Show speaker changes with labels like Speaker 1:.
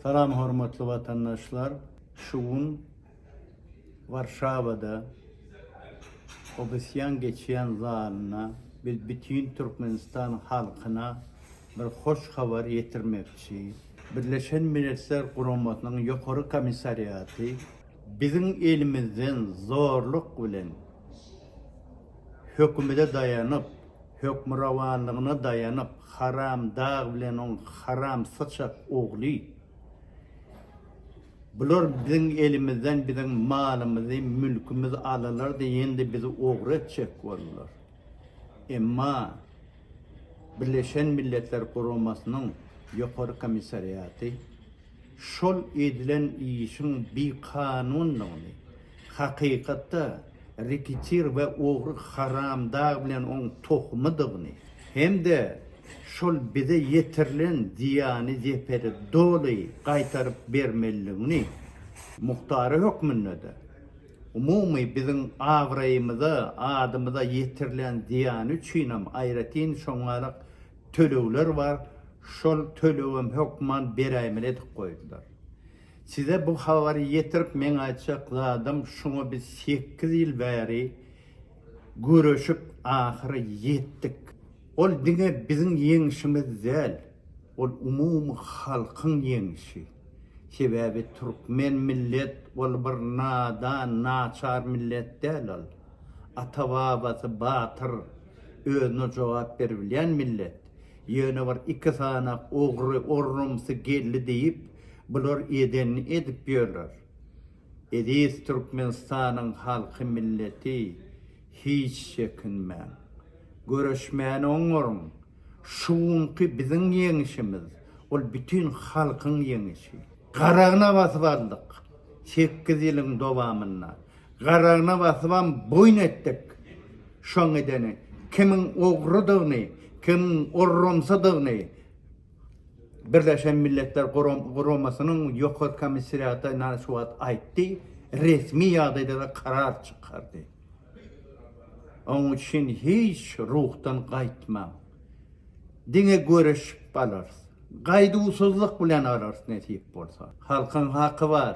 Speaker 1: Salam hormatly watandaşlar! Şu gün Warşawada Obysýan geçýän zalynda biz bütin Türkmenistan halkyna bir hoş habar ýetirmekçi. Birleşen Milletler Guramasynyň Ýokary Komissariaty, biziň elimizden zorluk bilen hökümede daýanyp hökmürowanlygyna daýanyp, haram dag bilen oň haram syçak ogly, bular biziň elimizden biziň malymyzy, mülkümiz alalardy, indi bizi ogry etjek boldular. Emma Birleşen Milletler Guramasynyň Ýokary komissariaty şol edilen işiň bikanundygyny, hakykatda reketir we ogry haramdag bilen oň tohumydygyny hem-de şol bize ýetirilen zyýany-zeperi doly gaýtaryp bermelidigini, muhtary hökmünde-de, umumy biziň abraýymyza, adymyza ýetirilen zyýany üçinem aýratyn şoňňarak tölegler bar, şol tölegem hökman beräýmeli edip goýdular. Size bu habary ýetirip meň aýtjak zadym şuňa biz sekiz ýyl bäri göreşip ahyry ýetdik. Ol diňe biziň ýeňişimiz däl, ol umumy halkyň ýeňişi. Sebäbi türkmen millet ol bir nadan, naçar millet däl ol. Ata-babasy batyr. özüne jogap beribilýän millet, ýöne bir iki sany ogry orrumsy geldi diýip bular edenini edip ýörler. Eziz Türkmenistanyň halky milleti hiç çekinmäň. Göreşmäni oňaryň. Şu günki biziň ýeňişimiz ol bütin halkyň ýeňişi. Garagyna basyp aldyk. Sekiz ýylyň dowamynda Garagyna basybam boýun etdik. Şoň edeni, kimiň ogrudygyny, kimiň orramsydygyny Birleşen Milletler Guramasynyň Ýokary Komissariaty ynha şu wagt aýtdy, resmi ýagdaýda-da karar çykardy. Onuň üçin hiç ruhdan gaýtmaň. Diňe göreşip alarys. Gaýduwsyzlyk bilen alarys nesip bolsa. Halkyň haky bar.